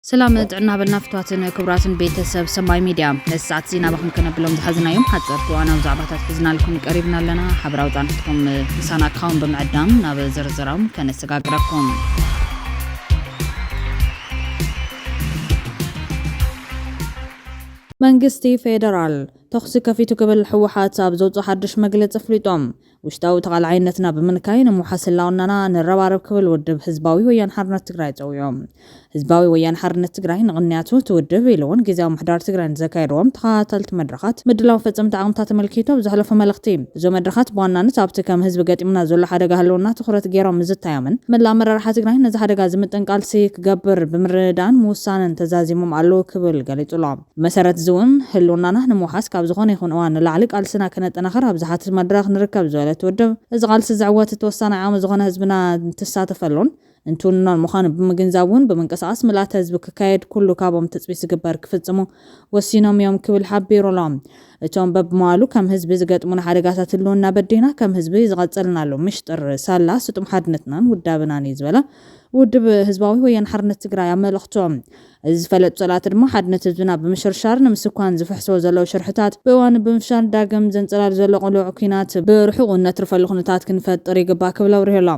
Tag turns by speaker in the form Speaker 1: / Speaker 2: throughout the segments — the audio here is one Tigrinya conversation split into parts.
Speaker 1: ሰላም ጥዕና በልና ፍትዋትን ክቡራትን ቤተሰብ ሰማይ ሚድያ ነዚ ሰዓት እዚ ናባኹም ከነብሎም ዝሓዝናዮም ሓፀርቲ እዋናዊ ዛዕባታት ሒዝናልኩም ቀሪብና ኣለና ሓበራዊ ፃንሒትኩም ምሳና ካውን ብምዕዳም ናብ ዝርዝራም ከነሰጋግረኩም መንግስቲ ፌደራል ተኹሲ ከፊቱ ክብል ህወሓት ኣብ ዘውፅኦ ሓዱሽ መግለፂ ኣፍሊጦም ውሽጣዊ ተቓላዓይነትና ብምንካይ ንምውሓስ ህላውናና ንረባረብ ክብል ውድብ ህዝባዊ ወያነ ሓርነት ትግራይ ፀዊዑ። ህዝባዊ ወያነ ሓርነት ትግራይ ንቕንያቱ እቲ ውድብ ኢሉ እውን ጊዚያዊ ምሕዳር ትግራይ ንዘካየድዎም ተኸታተልቲ መድረኻት ምድላው ፈፀምቲ ዓቕምታት ኣመልኪቱ ኣብ ዘሕለፎ መልእኽቲ እዞም መድረኻት ብዋናነት ኣብቲ ከም ህዝቢ ገጢሙና ዘሎ ሓደጋ ህልውና ትኹረት ገይሮም ምዝታዮምን መላእ ኣመራርሓ ትግራይ ነዚ ሓደጋ ዝምጥን ቃልሲ ክገብር ብምርድዳእን ምውሳንን ተዛዚሞም ኣለው ክብል ገሊፁ'ሎ። ብመሰረት እዚ'ውን ህልውናና ንምውሓስ ካብ ዝኾነ ይኹን እዋን ንላዕሊ ቃልስና ከነጠናኽር ኣብ ዝሓትት መድረኽ ንርከብ ዝበለት ውድብ፣ እዚ ቃልሲ ዘዕወት እቲ ወሳናይ ዓቕሚ ዝኾነ ህዝብና እንትሳተፈሉን እንትውንኖን ምዃኑ ብምግንዛብ እውን ብምንቅስቓስ ምልኣተ ህዝቢ ክካየድ ኩሉ ካብኦም ትፅቢት ዝግበር ክፍፅሙ ወሲኖም እዮም ክብል ሓቢሩ'ሎ። እቶም በብመዋእሉ ከም ህዝቢ ዝገጥሙና ሓደጋታት ህልውና በዲህና ከም ህዝቢ ዝቐፀልናሉ ምሽጥር ሳላ ስጡም ሓድነትናን ውዳበናን እዩ ዝበለ ውድብ ህዝባዊ ወያነ ሓርነት ትግራይ ኣብ መልእኽቱ፣ እዚ ዝፈለጡ ፀላእቲ ድማ ሓድነት ህዝብና ብምሽርሻር ንምስኳን ዝፍሕስዎ ዘለዉ ሽርሕታት ብእዋኑ ብምፍሻል ዳግም ዘንፀላሊ ዘሎ ቅሉዕ ኩናት ብርሑቑ እነትርፈሉ ኩነታት ክንፈጥር ይግባእ ክብል ኣብሪሁ ኣሎ።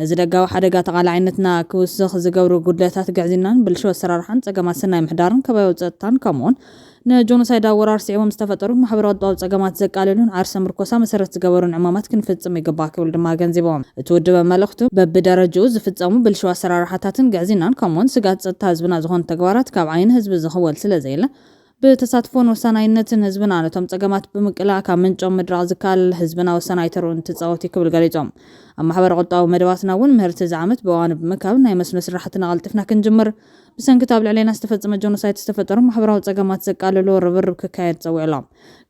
Speaker 1: ነዚ ደጋዊ ሓደጋ ተቓላዓይነትና ክውስኽ ዝገብሩ ጉድለታት ግዕዝይናን ብልሽው ኣሰራርሓን ፀገማት ሰናይ ምሕዳርን ከባቢያዊ ፀጥታን ከምኡ እውን ንጆኖሳይዳዊ ወራር ስዒቦም ዝተፈጠሩ ማሕበራዊ ቁጠባዊ ፀገማት ዘቃልሉን ዓርሰ ምርኮሳ መሰረት ዝገበሩን ዕማማት ክንፍፅም ይግባእ ክብል ድማ ኣገንዚቦም። እቲ ውድብ ኣብ መልእኽቱ፣ በቢደረጅኡ ዝፍፀሙ ብልሽው ኣሰራርሓታትን ግዕዝይናን ከምኡ እውን ስግኣት ፀጥታ ህዝብና ዝኾኑ ተግባራት ካብ ዓይኒ ህዝቢ ዝኽወል ስለዘየለ ብተሳትፎን ወሳናይነትን ህዝብና ነቶም ፀገማት ብምቅላዕ ካብ ምንጮም ምድራቕ ዝከኣል ህዝብና ወሳናይ ተርኡ እንትፃወት እዩ ክብል ገሊፆም። ኣብ ማሕበረ ቁጠባዊ መደባትና እውን ምህርቲ እዚ ዓመት ብእዋኑ ብምእካብ ናይ መስኖ ስራሕትና ቀልጢፍና ክንጅምር ብሰንኪ እቲ ኣብ ልዕሌና ዝተፈጸመ ጆኖሳይት ዝተፈጠሩ ማሕበራዊ ጸገማት ዘቃልሎ ርብርብ ክካየድ ጸዊዑ'ሎ።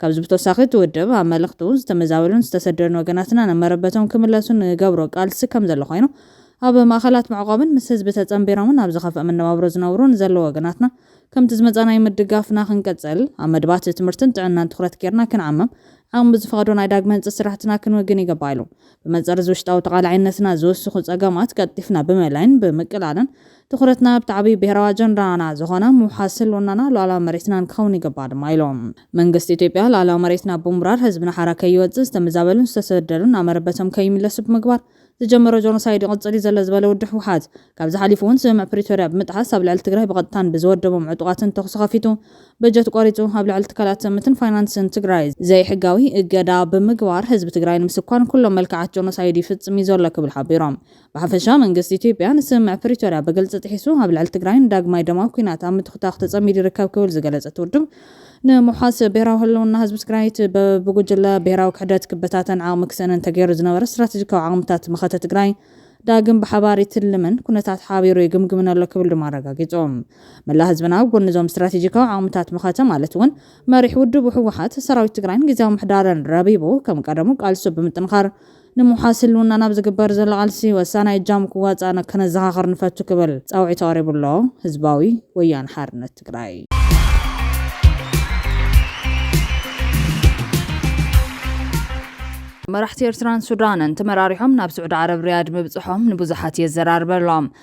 Speaker 1: ካብዚ ብተወሳኺ እቲ ውድብ ኣብ መልእኽቱ፣ ዝተመዛበሉን ዝተሰደዱን ወገናትና ናብ መረበቶም ክምለሱ ንገብሮ ቃልሲ ከምዘሎ ኮይኑ፣ ኣብ ማእኸላት መዕቖብን ምስ ህዝቢ ተጸንቢሮምን ኣብ ዝኸፍኣ መነባብሮ ዝነብሩ ንዘለዉ ወገናትና ከምቲ ዝመጻናዮ ምድጋፍና ክንቅጽል፣ ኣብ መድባት ትምህርትን ጥዕናን ትኹረት ጌርና ክንዓምም፣ ዓቕሚ ብዝፈቐዶ ናይ ዳግመ ህንጸት ስራሕትና ክንውግን ይግባእ ኢሉ። ብመንጽር እዚ ውሽጣዊ ተቓላዓይነትና ዝውስኹ ጸገማት ቀልጢፍና ብምእላይን ብምቅላልን፣ ትኹረትና ኣብቲ ዓብይ ብሄራዊ ኣጀንዳና ዝኾነ ምውሓስ ህልውናና ሉኣላዊ መሬትናን ክኸውን ይግባእ ድማ ኢሎም። መንግስቲ ኢትዮጵያ ሉኣላዊ መሬትና ብምውራር ህዝብና ሓራ ከይወፅእ፣ ዝተመዛበሉን ዝተሰደዱን ናብ መረበቶም ከይምለሱ ብምግባር ዝጀመሮ ጆኖሳይድ ይቕፅል ዩ ዘሎ ዝበለ ውድብ ህወሓት፣ ካብዚ ሓሊፉ ውን ስምምዕ ፕሪቶርያ ብምጥሓስ ኣብ ልዕሊ ትግራይ ብቐጥታን ብዝወደቦም ዕጡቓትን ተኹሲ ከፊቱ በጀት ቆሪፁ ኣብ ልዕሊ ትካላት ትእምትን ፋይናንስን ትግራይ ዘይሕጋዊ እገዳ ብምግባር ህዝቢ ትግራይ ንምስኳን ኩሎም መልክዓት ጆኖሳይድ ይፍፅም ዩ ዘሎ ክብል ሓቢሮም። ብሓፈሻ መንግስቲ ኢትዮጵያ ንስምምዕ ፕሪቶርያ ብግልፂ ጥሒሱ ኣብ ልዕሊ ትግራይ ንዳግማይ ደማዊ ኲናት ኣብ ምትኹታኽ ተፀሚዱ ይርከብ ክብል ዝገለፀ እቲ ውድብ ንምውሓስ ብሄራዊ ህልውና ህዝቢ ትግራይ እቲ ብጉጅለ ብሄራዊ ክሕደት ክበታተን ዓቕሚ ክስእንን ተገይሩ ዝነበረ ስትራቴጂካዊ ዓቕምታት መኸተ ትግራይ ዳግም ብሓባር ይትልምን ኩነታት ሓቢሩ ይግምግምን ኣሎ ክብል ድማ ኣረጋጊፁ። መላእ ህዝብና ኣብ ጎኒ እዞም ስትራቴጂካዊ ዓቕምታት መኸተ ማለት እውን መሪሕ ውድቡ ህወሓት፣ ሰራዊት ትግራይን ግዝያዊ ምሕዳርን ረቢቡ ከም ቀደሙ ቃልሱ ብምጥንኻር ንምውሓስ ህልውናን ኣብ ዝግበር ዘሎ ቃልሲ ወሳናይ እጃሙ ክዋፃእን ከነዘኻኽር ንፈቱ ክብል ፃውዒቱ ኣቕሪቡ ኣሎ። ህዝባዊ ወያነ ሓርነት ትግራይ። መራሕቲ ኤርትራን ሱዳንን ተመራሪሖም ናብ ስዑዲ ዓረብ ሪያድ ምብጽሖም ንብዙሓት የዘራርበሎም።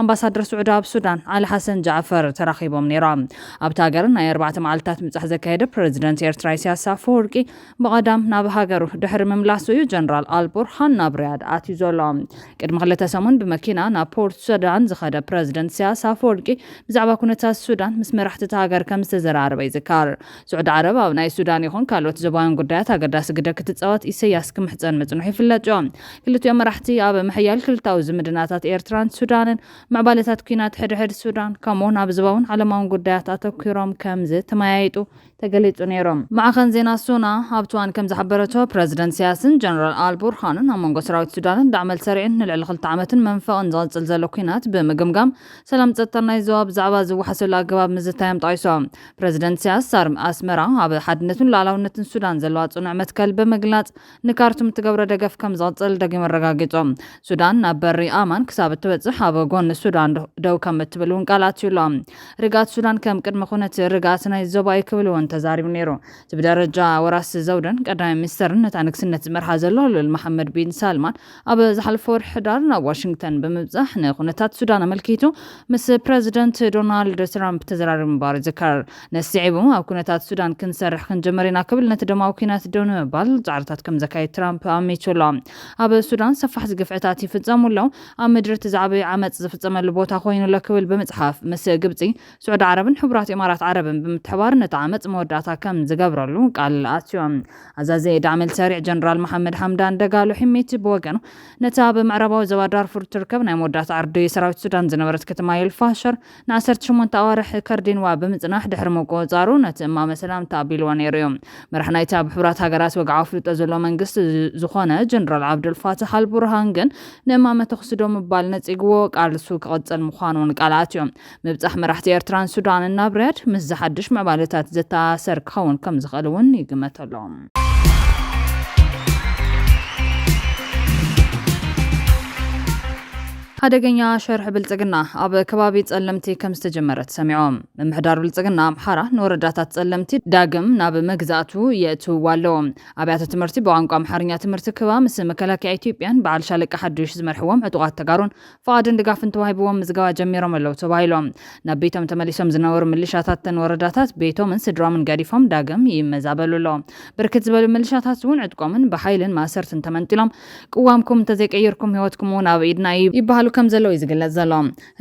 Speaker 1: ኣምባሳደር ስዑዲ ኣብ ሱዳን ዓሊ ሓሰን ጃዕፈር ተራኺቦም ነይሮም። ኣብታ ሃገር ናይ ኣርባዕተ መዓልታት ምብጻሕ ዘካየደ ፕረዚደንት ኤርትራ ኢሳያስ ኣፈወርቂ ብቐዳም ናብ ሃገሩ ድሕሪ ምምላሱ እዩ ጀነራል ኣል ቡርሃን ናብ ሪያድ ኣትዩ ዘሎ። ቅድሚ ክልተ ሰሙን ብመኪና ናብ ፖርት ሱዳን ዝኸደ ፕረዚደንት ኢሳያስ ኣፈወርቂ ብዛዕባ ኩነታት ሱዳን ምስ መራሕቲ እታ ሃገር ከምዝተዘራረበ ይዝከር። ስዑዲ ዓረብ ኣብ ናይ ሱዳን ይኹን ካልኦት ዞባውያን ጉዳያት ኣገዳሲ ግደ ክትጻወት ኢሰያስ ክምሕጸን ምጽንሑ ይፍለጥዮ። ክልቲኦም መራሕቲ ኣብ ምሕያል ክልታዊ ዝምድናታት ኤርትራን ሱዳንን፣ ምዕባለታት ኲናት ሕድሕድ ሱዳን፣ ከምኡ'ውን ኣብ ዞባውን ዓለማውን ጉዳያት ኣተኲሮም ከምዝተመያየጡ ተገሊጹ ነይሩ። ማዕኸን ዜና ሶና ኣብ ትዋን ከምዝሓበረቶ፣ ፕረዚደንት ኢሰያስን ጀነራል ኣል ቡርሃንን ኣብ መንጎ ሰራዊት ሱዳንን ዳዕመል ሰሪዕን ንልዕሊ ክልተ ዓመትን መንፈቕን ዝቕጽል ዘሎ ኲናት ብምግምጋም፣ ሰላም ጸጥታን ናይ ዞባ ብዛዕባ ዝወሓሰሉ ኣገባብ ምዝታዮም ጠቒሶም። ፕረዚደንት ኢሳያስ ኣር ኣስመራ ኣብ ሓድነትን ሉኣላውነትን ሱዳን ዘለዋ ጽኑዕ መትከል ብምግላጽ ንካርቱም እትገብሮ ደገፍ ከም ዝቕጽል ደጊም ኣረጋጊጹ። ሱዳን ናብ በሪ ኣማን ክሳብ እትበጽሕ ኣብ ጎኒ ሱዳን ደው ከም እትብል እውን ቃል ኣትዩ ኣሎ። ርግኣት ሱዳን ከም ቅድመ ኩነት ርግኣት ናይ ዞባ እዩ ክብል እውን ተዛሪቡ ነይሩ። እቲ ብደረጃ ወራሲ ዘውድን ቀዳማይ ሚኒስተርን ነታ ንግስነት ዝመርሓ ዘሎ ልኡል መሓመድ ቢን ሳልማን፣ ኣብ ዝሓለፈ ወርሒ ሕዳር ናብ ዋሽንግተን ብምብጻሕ ንኩነታት ሱዳን ኣመልኪቱ ምስ ፕረዚደንት ዶናልድ ትራምፕ ተዘራሪቡ ምንባሩ ይዝከር። ነዚ ስዒቡ ኣብ ኩነታት ሱዳን ክንሰርሕ ክንጅምር ኢና ክብል ነቲ ደማዊ ኲናት ደው ንምባል ጻዕርታት ከም ዘካይድ ትራምፕ ኣሚቱ ኣሎ። ኣብ ሱዳን ሰፋሕቲ ግፍዕታት ይፍጸሙ ኣለዉ፣ ኣብ ምድሪ እቲ ዝዓበዩ ዓመጽ ዝፍጸመሉ ቦታ ኮይኑ ኣሎ ክብል ብምጽሓፍ ምስ ግብጺ ስዑዲ ዓረብን ሕቡራት ኢማራት ዓረብን ብምትሕባር ነቲ ዓመጽ መወዳእታ ከም ዝገብረሉ ቃል ኣትዮም። ኣዛዚ ዳዕመል ሰሪዕ ጀነራል መሓመድ ሓምዳን ደጋሎ ሒሚቲ ብወገኑ፣ ነታ ኣብ ምዕራባዊ ዞባ ዳርፉር እትርከብ ናይ መወዳእታ ዕርዲ ሰራዊት ሱዳን ዝነበረት ከተማ ኤል ፋሸር ንዓሰርተ ሸሞንተ ኣዋርሕ ከርዲንዋ ብምጽናሕ ድሕሪ ምቁጽጻሩ ነቲ እማመ ሰላም ተኣቢልዎ ነይሩ እዩ። መራሒ ናይቲ ኣብ ሕቡራት ሃገራት ወግዓዊ ኣፍልጦ ዘለዎ መንግስቲ ዝኾነ ጀነራል ዓብደል ፋታሕ ኣል ቡርሃን ግን ንእማመ ተኹሲ ደው ምባል ነጺግዎ ቃልሱ ክቕጽል ምዃኑ ቃል ኣትዮ። ምብጻሕ መራሕቲ ኤርትራን ሱዳንን ናብ ሪያድ፣ ምስዚ ሓድሽ ምዕባለታት ዝተኣሳሰር ክኸውን ከም ዝኽእል እውን ይግመተ'ሎ። ሓደገኛ ሸርሒ ብልጽግና ኣብ ከባቢ ጸለምቲ ከም ዝተጀመረ ተሰሚዑ። ምምሕዳር ብልጽግና ኣምሓራ ንወረዳታት ጸለምቲ ዳግም ናብ መግዛእቱ የእትውዋ ኣሎ። ኣብያተ ትምህርቲ ብቋንቋ ኣምሓርኛ ትምህርቲ ክህባ ምስ መከላከያ ኢትዮጵያን በዓል ሻለቃ ሓዱሽ ዝመርሕዎም ዕጡቓት ተጋሩን ፍቓድን ድጋፍን ተዋሂብዎም ምዝገባ ጀሚሮም ኣለው ተባሂሎም ናብ ቤቶም ተመሊሶም ዝነበሩ ምልሻታት ተን ወረዳታት ቤቶምን ስድሮምን ገዲፎም ዳግም ይመዛበሉ ኣለው። ብርክት ዝበሉ ምልሻታት እውን ዕጥቆምን ብሓይልን ማእሰርትን ተመንጢሎም ቅዋምኩም እንተዘይቀይርኩም ህይወትኩም እውን ኣብ ኢድና እዩ ይበሃሉ ከም ዘለው እዩ ዝግለፅ ዘሎ።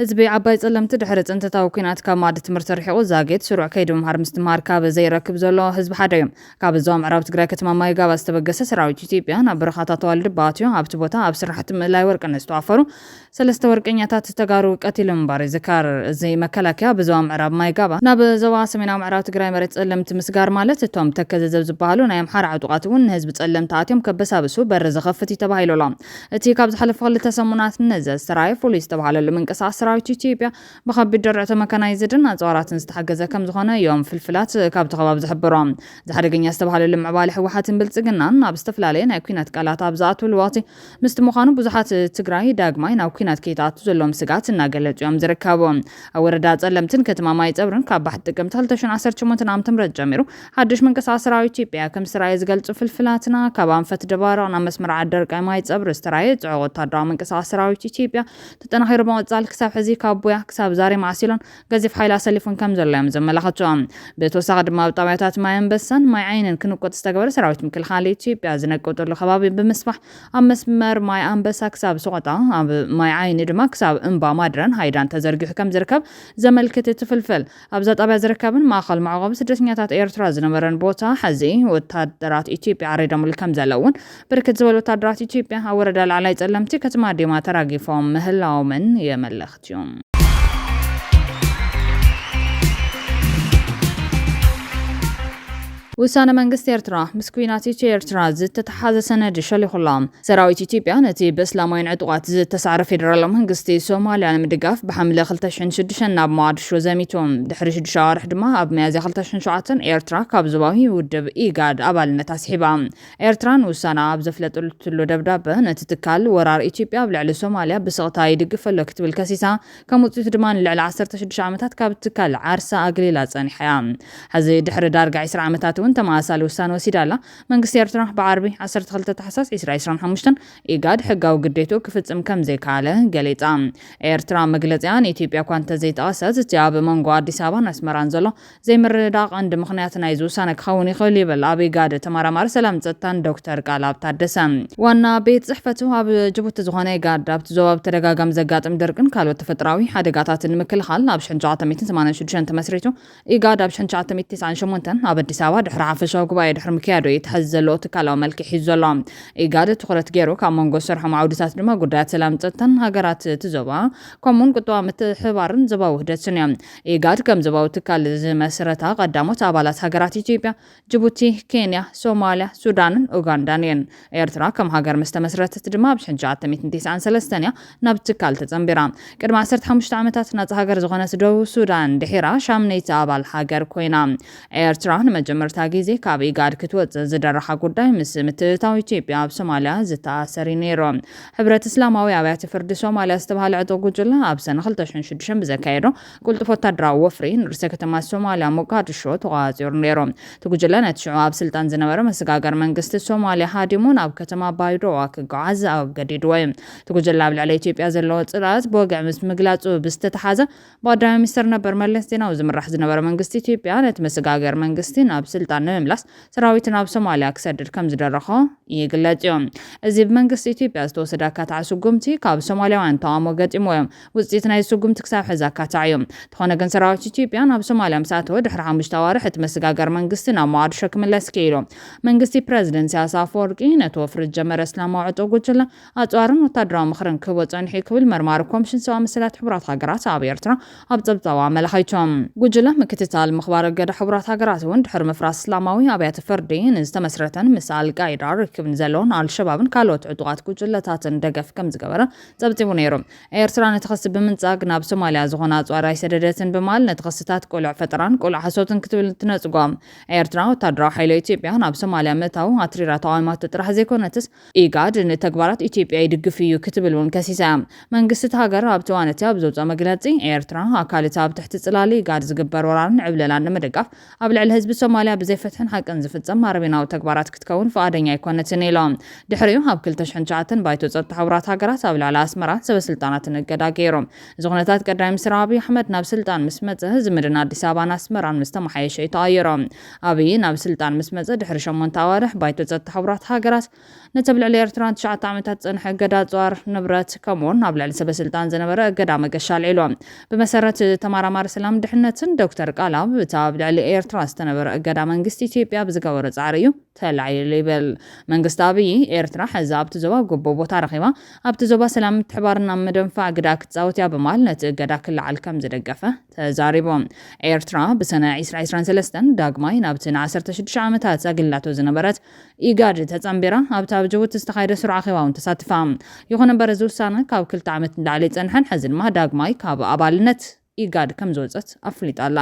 Speaker 1: ህዝቢ ዓባይ ፀለምቲ ድሕሪ ፅንተታዊ ኲናት ካብ ማእዲ ትምህርቲ ርሒቑ ዛጊት ስሩዕ ከይዲ ምምሃር ምስትምሃር ካብ ዘይረክብ ዘሎ ህዝቢ ሓደ እዩ። ካብ ዞባ ምዕራብ ትግራይ ከተማ ማይጋባ ዝተበገሰ ሰራዊት ኢትዮጵያ ናብ በረኻታት ዋልድባ ኣትዩ ኣብቲ ቦታ ኣብ ስራሕቲ ምእላይ ወርቂ ንዝተዋፈሩ ሰለስተ ወርቀኛታት ተጋሩ ቀቲሉ ምንባሩ ይዝከር። እዚ መከላከያ ብዞባ ምዕራብ ማይጋባ ናብ ዞባ ሰሜናዊ ምዕራብ ትግራይ መሬት ፀለምቲ ምስጋር ማለት እቶም ተከዘዘብ ዝበሃሉ ናይ ኣምሓራ ዕጡቓት እውን ንህዝቢ ፀለምቲ ኣትዮም ከበሳብሱ በሪ ዝኸፍት እዩ ተባሂሉ ኣሎ። እቲ ካብ ዝሓለፉ ክልተ ሰሙናት ንዘ ዝተርኣየ ፍሉይ ዝተብሃለሉ ምንቅስቓስ ሰራዊት ኢትዮጵያ ብከቢድ ደረዕቶ መካናይዝድን ኣፅዋራትን ዝተሓገዘ ከምዝኾነ ዮም ፍልፍላት ካብቲ ከባቢ ዝሕብሮ። እዚ ሓደገኛ ዝተብሃለሉ ምዕባለ ህወሓትን ብልፅግናን ናብ ዝተፈላለየ ናይ ኲናት ቃላት ኣብ ዝኣትውሉ ወቕቲ ምስቲ ምዃኑ ብዙሓት ትግራይ ዳግማይ ናብ ኲናት ከይትኣቱ ዘለዎም ስግኣት እናገለፁ ዮም ዝርከቡ። ኣብ ወረዳ ፀለምትን ከተማ ማይፀብርን ካብ ባሕቲ ጥቅምቲ ክልተ ሽሕን ዓሰርተ ሸሞንተ ዓመተምህረት ጀሚሩ ሓዱሽ ምንቅስቓስ ሰራዊት ኢትዮጵያ ከምዝተራእየ ዝገልፁ ፍልፍላትና ካብ ኣንፈት ደባርቕ ናብ መስመር ዓደርቃይ ማይፀብሪ ዝተራእየ ፅዑቕ ወታደራዊ ምንቅስቓስ ሰራዊት ኢትዮጵያ ተጠናኺሩ ብምቕፃል ክሳብ ሕዚ ካብ ቡያ ክሳብ ዛሬ ማዕሲሎን ገዚፍ ሓይሊ ኣሰሊፉን ከም ዘሎ እዮም ዘመላኽቱ። ብተወሳኺ ድማ ኣብ ጣብያታት ማይ ኣንበሳን ማይ ዓይንን ክንቆፅ ዝተገበረ ሰራዊት ምክልኻል ኢትዮጵያ ዝነቀጠሉ ከባቢ ብምስፋሕ ኣብ መስመር ማይ ኣንበሳ ክሳብ ሰቖጣ ኣብ ማይ ዓይኒ ድማ ክሳብ እምባ ማድረን ሃይዳን ተዘርጊሑ ከም ዝርከብ ዘመልክት እቲ ፍልፍል ኣብዛ ጣብያ ዝርከብን ማእኸል መዕቖቢ ስደተኛታት ኤርትራ ዝነበረን ቦታ ሐዚ ወታደራት ኢትዮጵያ ዓሪዶምሉ ከምዘለውን ብርክት ዝበሉ ወታደራት ኢትዮጵያ ኣብ ወረዳ ላዕላይ ፀለምቲ ከተማ ዲማ ተራጊፎም ምህላዎምን የመልኽት ዩ። ውሳነ መንግስቲ ኤርትራ ምስ ኲናት ኢትዮ ኤርትራ ዝተተሓሓዘ ሰነድ ሸሊኹ ኣሎ። ሰራዊት ኢትዮጵያ ነቲ ብእስላማውያን ዕጡቓት ዝተሳዕረ ፌደራላዊ መንግስቲ ሶማልያ ንምድጋፍ ብሓምለ 2006 ናብ ሞቓድሾ ዘሚቱ። ድሕሪ ሽዱሽተ ኣዋርሕ ድማ ኣብ ሚያዝያ 2007 ኤርትራ ካብ ዞባዊ ውድብ ኢጋድ ኣባልነት ኣስሒባ። ኤርትራ ንውሳነኣ ኣብ ዘፍለጠትሉ ደብዳበ፣ ነቲ ትካል ወራር ኢትዮጵያ ኣብ ልዕሊ ሶማልያ ብስቕታ ይድግፍ ኣሎ ክትብል ከሲሳ። ከም ውጽኢቱ ድማ ንልዕሊ ዓሰርተ ሽዱሽተ ዓመታት ካብ ትካል ዓርሳ ኣግሊላ ጸኒሓ እያ። ሕዚ ድሕሪ ዳርጋ ዕስራ ዓመታት እውን ተመሳሳሊ ውሳነ ወሲዳ ኣላ። መንግስቲ ኤርትራ ብዓርቢ ዓሰርተ ክልተ ታሕሳስ ዕስራ ዕስራን ሓሙሽተን ኢጋድ ሕጋዊ ግዴትኡ ክፍጽም ከምዘይከኣለ ገሊጻ። ኤርትራ መግለጺኣ ንኢትዮጵያ'ኳ እንተዘይጠቐሰት፣ እቲ ኣብ መንጎ ኣዲስ ኣበባን ኣስመራን ዘሎ ዘይምርድዳእ ቀንዲ ምኽንያት ናይዚ ውሳነ ክኸውን ይኽእል'ዩ ይብል ኣብ ኢጋድ ተመራማሪ ሰላምን ጸጥታን ዶክተር ቃልኣብ ታደሰ። ዋና ቤት ጽሕፈቱ ኣብ ጅቡቲ ዝኾነ ኢጋድ፣ ኣብቲ ዞባ ብተደጋጋሚ ዘጋጥም ድርቅን ካልኦት ተፈጥሮኣዊ ሓደጋታትን ንምክልኻል ኣብ ሽሕን ትሽዓተ ሚእትን ሰማንያን ሽዱሽተን ተመስሪቱ ኢጋድ ኣብ ሽሕን ትሽዓተ ሚእቲ ትስዓን ሸሞንተን ኣብ ኣዲስ ኣበባ ድሕሪ ሓፈሻዊ ጉባኤ ድሕሪ ምክያዱ እዩ እቲ ሐዚ ዘለዎ ትካላዊ መልክዕ ሒዙ ዘሎ። ኢጋድ ትኹረት ገይሩ ካብ መንጎ ዝሰርሖም ዓውድታት ድማ ጉዳያት ሰላምን ፀጥታን ሃገራት እቲ ዞባ ከምኡ እውን ቁጠባዊ ምትሕብባርን ዞባዊ ውህደትን እዮም። ኢጋድ ከም ዞባዊ ትካል ዝመስረታ ቀዳሞት ኣባላት ሃገራት ኢትዮጵያ፣ ጅቡቲ፣ ኬንያ፣ ሶማልያ፣ ሱዳንን ኡጋንዳን እየን። ኤርትራ ከም ሃገር ምስ ተመስረተት ድማ ኣብ ሽሕን ሸዓተሚእትን ቲስዓን ሰለስተን እያ ናብ ትካል ተጸንቢራ። ቅድሚ ዓሰርተ ሓሙሽተ ዓመታት ናጻ ሃገር ዝኾነት ደቡብ ሱዳን ድሒራ ሻምነይቲ ኣባል ሃገር ኮይና። ኤርትራ ንመጀመርታ ግዜ ካብ ኢጋድ ክትወጽእ ዝደረኻ ጉዳይ ምስ ምትእትታው ኢትዮጵያ ኣብ ሶማልያ ዝተኣሰር እዩ ነይሩ። ሕብረት እስላማዊ ኣብያተ ፍርዲ ሶማልያ ዝተባህለ ዕጡቕ ጉጅለ ኣብ ሰነ ክልተ ሽሕን ሽዱሽተን ብዘካየዶ ቅልጡፍ ወታደራዊ ወፍሪ ንርእሰ ከተማ ሶማልያ ሞጋድሾ ተቖጻጺሩ ነይሩ። እቲ ጉጅለ ነቲ ሽዑ ኣብ ስልጣን ዝነበረ መሰጋገሪ መንግስቲ ሶማልያ ሃዲሙ ናብ ከተማ ባይዶዋ ክጓዓዝ ኣገዲድዎ እዩ። እቲ ጉጅለ ኣብ ልዕሊ ኢትዮጵያ ዘለዎ ጽልኣት ብወግዒ ምስ ምግላጹ ብዝተተሓሓዘ ብቀዳማይ ሚኒስተር ነበር መለስ ዜናዊ ዝምራሕ ዝነበረ መንግስቲ ኢትዮጵያ ነቲ መሰጋገሪ መንግስቲ ናብ ስልጣን ንምምላስ ሰራዊቱ ናብ ሶማልያ ክሰድድ ከምዝደረኾ ይግለጽ እዩ። እዚ ብመንግስቲ ኢትዮጵያ ዝተወሰደ ኣካታዒ ስጉምቲ ካብ ሶማልያውያን ተቓውሞ ገጢምዎ እዩ። ውጽኢት ናይዚ ስጉምቲ ክሳብ ሕዚ ኣካታዒ እዩ። እንተኾነ ግን ሰራዊት ኢትዮጵያ ናብ ሶማልያ ምስ ኣተወ ድሕሪ ሓሙሽተ ኣዋርሕ እቲ መስጋገሪ መንግስቲ ናብ ሞቓድሾ ክምለስ ክኢሉ። መንግስቲ ፕረዚደንት ኢሳያስ ኣፈወርቂ ነቲ ወፍሪ ዝጀመረ እስላማዊ ዕጡቕ ጉጅለ ኣጽዋርን ወታደራዊ ምኽርን ክህቦ ጸኒሑ እዩ ክብል መርማሪ ኮምሽን ሰብኣዊ መሰላት ሕቡራት ሃገራት ኣብ ኤርትራ ኣብ ጸብጻቡ ኣመላኺቱ። ጉጅለ ምክትታል ምኽባር እገዳ ሕቡራት ሃገራት እውን ድሕሪ ምፍራስ እስላማዊ ኣብያተ ፍርዲ ንዝተመስረተን ምስ ኣልቃይዳ ርክብ ንዘለዎን ኣልሸባብን ካልኦት ዕጡቓት ጉጅለታትን ደገፍ ከምዝገበረ ጸብጺቡ ነይሩ። ኤርትራ ነቲ ክሲ ብምንጻግ ናብ ሶማልያ ዝኾነ ኣጽዋር ኣይሰደደትን ብምባል ነቲ ክስታት ቅሉዕ ፈጠራን ቅሉዕ ሓሶትን ክትብል ትነጽጎ። ኤርትራ ወተሃደራዊ ሓይሊ ኢትዮጵያ ናብ ሶማልያ ምእታው ኣትሪራ ተቓዊማቶ ጥራሕ ዘይኮነትስ፣ ኢጋድ ንተግባራት ኢትዮጵያ ይድግፍ እዩ ክትብል እውን ከሲሳ እያ። መንግስቲ እታ ሃገር ኣብቲ እዋን እቲ ኣብ ዘውጽኦ መግለጺ፣ ኤርትራ ኣካል እቲ ኣብ ትሕቲ ጽላል ኢጋድ ዝግበር ወራርን ዕብለላን ንምድጋፍ ኣብ ልዕሊ ህዝቢ ሶማልያ ብዘይ ፍትሕን ሓቅን ዝፍጸም ኣረሜናዊ ተግባራት ክትከውን ፍቓደኛ ኣይኮነትን ኢሎም። ድሕሪኡ ኣብ ክልተ ሽሕን ትሽዓተን ባይቶ ጸጥታ ሕቡራት ሃገራት ኣብ ልዕሊ ኣስመራን ሰበ ስልጣናትን እገዳ ገይሩ። እዚ ኩነታት ቀዳማይ ሚኒስትር ኣብይ ኣሕመድ ናብ ስልጣን ምስ መጸ ዝምድና ኣዲስ ኣበባን ኣስመራን ምስ ተመሓየሸ እዩ ተቐይሩ። ኣብይ ናብ ስልጣን ምስ መጸ ድሕሪ ሸሞንተ ኣዋርሕ ባይቶ ጸጥታ ሕቡራት ሃገራት ነቲ ኣብ ልዕሊ ኤርትራ ንትሽዓተ ዓመታት ዝጸንሐ እገዳ ኣጽዋር፣ ንብረት፣ ከምኡ'ውን ኣብ ልዕሊ ሰበስልጣን ዝነበረ እገዳ መገሻ ኣልዒሉ። ብመሰረት ተማራማሪ ሰላምን ድሕነትን ዶክተር ቃልኣብ፣ እቲ ኣብ ልዕሊ ኤርትራ ዝተነበረ እገዳ መንግስቲ ኢትዮጵያ ብዝገበሮ ጻዕሪ እዩ ተላዒሉ ይብል። መንግስቲ ኣብይ፣ ኤርትራ ሕዚ ኣብቲ ዞባ ግቡእ ቦታ ረኺባ፣ ኣብቲ ዞባ ሰላምን ምትሕብባርን ኣብ ምድንፋዕ ግደኣ ክትጻወት እያ ብምባል ነቲ እገዳ ክለዓል ከምዝደገፈ ተዛሪቡ። ኤርትራ ብሰነ ዒስራ ዒስራን ሰለስተን ዳግማይ ናብቲ ንዓሰርተ ሽዱሽተ ዓመታት ኣግሊላቶ ዝነበረት ኢጋድ ተጸንቢራ ኣብቲ ኣብ ጅቡቲ ዝተኻየደ ስሩዕ ኣኼባ'ውን ተሳቲፋ። ይኹን እምበር እዚ ውሳነ ካብ ክልተ ዓመት ንላዕሊ ይጸንሐን ሕዚ ድማ ዳግማይ ካብ ኣባልነት ኢጋድ ከምዝወጸት ኣፍሊጣ ኣላ።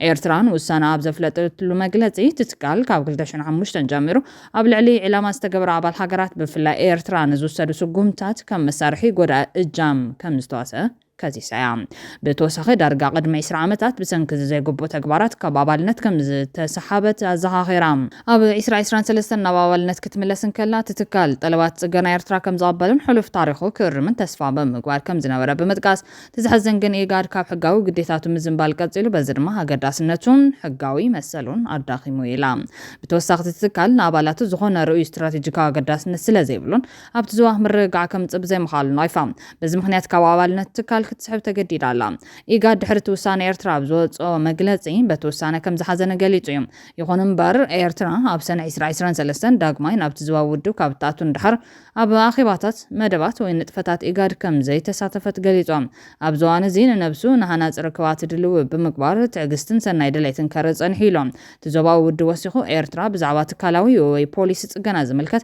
Speaker 1: ኤርትራ ንውሳነኣ ኣብ ዘፍለጠትሉ መግለጺ እቲ ትካል ካብ ክልተ ሽሕ ሓሙሽተ ጀሚሩ ኣብ ልዕሊ ዒላማ ዝተገበራ ኣባል ሃገራት ብፍላይ ኤርትራ ንዝውሰዱ ስጉምትታት ከም መሳርሒ ጎዳኢ እጃም ከምዝተዋሰኣ ከሲሳ'ያ። ብተወሳኺ ዳርጋ ቅድሚ ዕስራ ዓመታት ብሰንኪ'ዚ ዘይግቡእ ተግባራት ካብ ኣባልነት ከም ዝተሰሓበት ኣዘኻኺራ። ኣብ ዕስራ ዕስራን ሰለስተን ናብ ኣባልነት ክትምለስ እንከላ፣ እቲ ትካል ጠለባት ጽገና ኤርትራ ከም ዝቕበልን ሕሉፍ ታሪኹ ክእርምን ተስፋ ብምግባር ከም ዝነበረ ብምጥቃስ፣ እቲ ዘሕዝን ግን ኢጋድ ካብ ሕጋዊ ግዴታቱ ምዝንባል ቀጺሉ፣ በዚ ድማ ኣገዳስነቱን ሕጋዊ መሰሉን ኣዳኺሙ ኢላ። ብተወሳኺ እቲ ትካል ንኣባላቱ ዝኾነ ርኡይ ስትራቴጂካዊ ኣገዳስነት ስለ ዘይብሉን፣ ኣብቲ ዞባ ምርግጋዕ ከምጽእ ብዘይምኽኣሉ ናይፋ በዚ ምኽንያት ካብ ኣባልነት እቲ ትካል ክትስሕብ ተገዲዳ ኣላ። ኢጋድ ድሕሪ እቲ ውሳነ ኤርትራ ኣብ ዘወጽኦ መግለጺ በቲ ውሳነ ከምዝሓዘነ ገሊጹ እዩ። ይኹን'ምበር ኤርትራ ኣብ ሰነ ዕስራ ዕስራን ሰለስተን ዳግማይ ናብቲ ዞባዊ ውድብ ካብ እትኣቱ ንደሓር ኣብ ኣኼባታት፣ መደባት ወይ ንጥፈታት ኢጋድ ከምዘይተሳተፈት ገሊጹ። ኣብዚ እዋን እዚ ንነብሱ ንሃናጺ ርክባት ድልዊ ብምግባር ትዕግስትን ሰናይ ድሌትን ከርኢ ጸኒሑ ኢሉ እቲ ዞባዊ ውድብ ወሲኹ። ኤርትራ ብዛዕባ ትካላዊ ወይ ፖሊሲ ጽገና ዝምልከት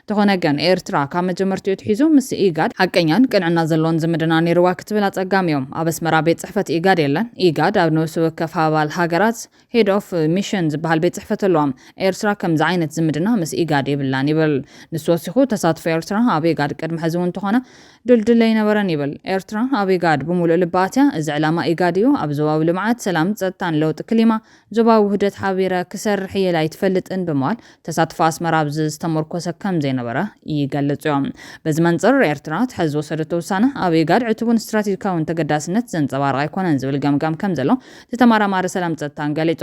Speaker 1: እንተኾነ ግን ኤርትራ ካብ መጀመርትኡ ኣትሒዙ ምስ ኢጋድ ሓቀኛን ቅንዕና ዘለዎን ዝምድና ነይርዋ ክትብል ኣጸጋሚዮ። ኣብ ኣስመራ ቤት ጽሕፈት ኢጋድ የለን። ኢጋድ ኣብ ነብሲ ወከፍ ኣባል ሃገራት ሄድ ኦፍ ሚሽን ዝበሃል ቤት ጽሕፈት ኣለዎም። ኤርትራ ከምዚ ዓይነት ዝምድና ምስ ኢጋድ የብላን ይብል። ንሱ ወሲኹ ተሳትፎ ኤርትራ ኣብ ኢጋድ ቅድሚ ሕዚ እውን እንተኾነ ድልዱል ኣይነበረን ይብል። ኤርትራ ኣብ ኢጋድ ብምሉእ ልባ ኣትያ እዚ ዕላማ ኢጋድ እዩ። ኣብ ዞባዊ ልምዓት፣ ሰላም፣ ጸጥታን ለውጢ ክሊማ፣ ዞባዊ ውህደት ሓቢረ ክሰርሕ እየ ኢላ ኣይትፈልጥን ብምባል ተሳትፎ ኣስመራ ኣብዚ ዝተሞርኮሰ ከምዘይነበረ ይገልጽዮ። በዚ መንጽር ኤርትራ እቲ ሐዚ ዝወሰደቶ ውሳነ ኣብ ኢጋድ ዕቱብን ስትራቴጂካዊን ተገዳስነት ዘንጸባርቕ ኣይኮነን ዝብል ገምጋም ከምዘሎ እቲ ተማራማሪ ሰላም ጸጥታን ገሊጹ።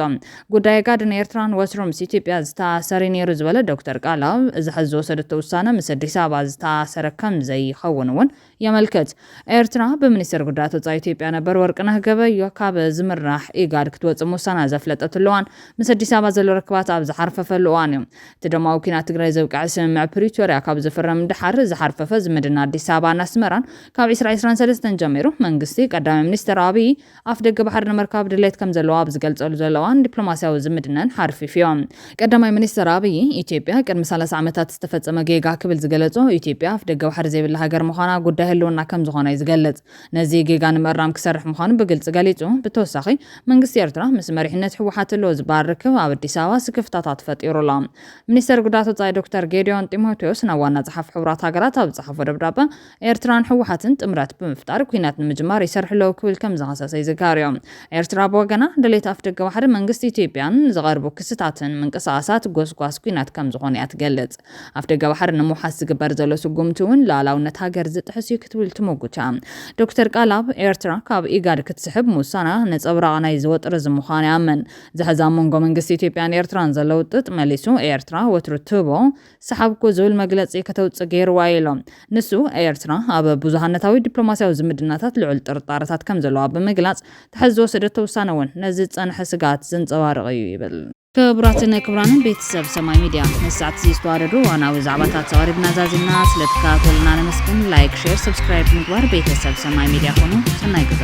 Speaker 1: ጉዳይ ኢጋድን ኤርትራን ወትሩ ምስ ኢትዮጵያ ዝተኣሰርዩ ነይሩ ዝበለ ዶክተር ቃል ኣብ እዚ ሐዚ ዝወሰደቶ ውሳነ ምስ ኣዲስ ኣበባ ዝተኣሰረ ከምዘይኸውን እውን የመልክት። ኤርትራ ብሚኒስተር ጉዳያት ወጻኢ ኢትዮጵያ ነበር ወርቅነህ ገበዮ ካብ ዝምራሕ ኢጋድ ክትወጽእ ምውሳና ዘፍለጠትሉ እዋን ምስ ኣዲስ ኣበባ ዘሎ ርክባት ኣብ ዝሓርፈፈሉ እዋን እዩ። እቲ ደማዊ ኲናት ትግራይ ዘብቅዐ ስምምዕ ፕሪቶርያ ካብ ዝፍረም ድሓር ዝሓርፈፈ ዝምድና ኣዲስ ኣበባን ኣስመራን ካብ ዕስራ ዕስራን ሰለስተን ጀሚሩ መንግስቲ ቀዳማይ ሚኒስተር ኣብይ ኣፍደገ ባሕሪ ንምርካብ ድሌት ከምዘለዎ ኣብ ዝገልጸሉ ዘሎ እዋን ዲፕሎማስያዊ ዝምድነን ሓርፊፍዮ። ቀዳማይ ሚኒስተር ኣብይ፣ ኢትዮጵያ ቅድሚ ሰላሳ ዓመታት ዝተፈጸመ ጌጋ ክብል ዝገለጾ፣ ኢትዮጵያ ኣፍደገ ባሕሪ ዘይብላ ሃገር ምዃና ጉዳይ ህልውና ከምዝኾነ'ዩ ዝገልጽ። ነዚ ጌጋ ንምእራም ክሰርሕ ምዃኑ ብግልጺ ገሊጹ። ብተወሳኺ፣ መንግስቲ ኤርትራ ምስ መሪሕነት ህወሓት ኣሎ ዝበሃል ርክብ ኣብ ኣዲስ ኣበባ ስክፍታታት ፈጢሩ ኣሎ። ሚኒስተር ጉዳያት ወጻኢ ዶክተር ጌዲዮን ጢሞቴዎስ ናብ ዋና ጸሓፊ ሕቡራት ሃገራት ኣብ ዝጸሓፎ ደብዳበ፣ ኤርትራን ህወሓትን ጥምረት ብምፍጣር ኲናት ንምጅማር ይሰርሑ ኣለዉ ክብል ከም ዝኸሰሰ ይዝከርዮ። ኤርትራ ብወገና፣ ድሌት ኣፍደገ ባሕሪ መንግስቲ ኢትዮጵያን ዝቐርቡ ክስታትን ምንቅስቓሳት ጎስጓስ ኲናት ከም ዝኾኑ እያ ትገልጽ። ኣፍደገ ባሕሪ ንምውሓስ ዝግበር ዘሎ ስጉምቲ እውን ልኣላውነት ሃገር ዝጥሕስ እዩ ክትብል ትሞጉታ። ዶክተር ቃልኣብ፣ ኤርትራ ካብ ኢጋድ ክትስሕብ ምውሳና ነጸብራቕ ናይዚ ወጥሪዚ ምዃኑ ይኣምን። እዚ ሕዚ ኣብ መንጎ መንግስቲ ኢትዮጵያን ኤርትራን ዘሎ ውጥጥ መሊሱ ኤርትራ ወትሩ ትህቦ ሰሓብኩ ዝብል መግለጺ ከተውጽእ ገይሩዋ'ዩ ኢሎም። ንሱ፣ ኤርትራ ኣብ ብዙሃነታዊ ዲፕሎማስያዊ ዝምድናታት ልዑል ጥርጣረታት ከም ዘለዋ ብምግላጽ፣ ትሕዚ ዝወሰደቶ ውሳነ'ውን ነዚ ዝጸንሐ ስግኣት ዘንጸባርቕ'ዩ ይብል። ክቡራትን ክቡራንን ቤተሰብ ሰማይ ሚድያ ነዚ ሰዓት'ዚ ዝተዋደዱ እዋናዊ ዛዕባታት ኣቕሪብና ዛዚምና። ስለ ትከታተሉና ነመስግን። ላይክ፣ ሼር፣ ሰብስክራይብ ብምግባር ቤተሰብ ሰማይ ሚድያ ኩኑ። ሰናይ ግዘ!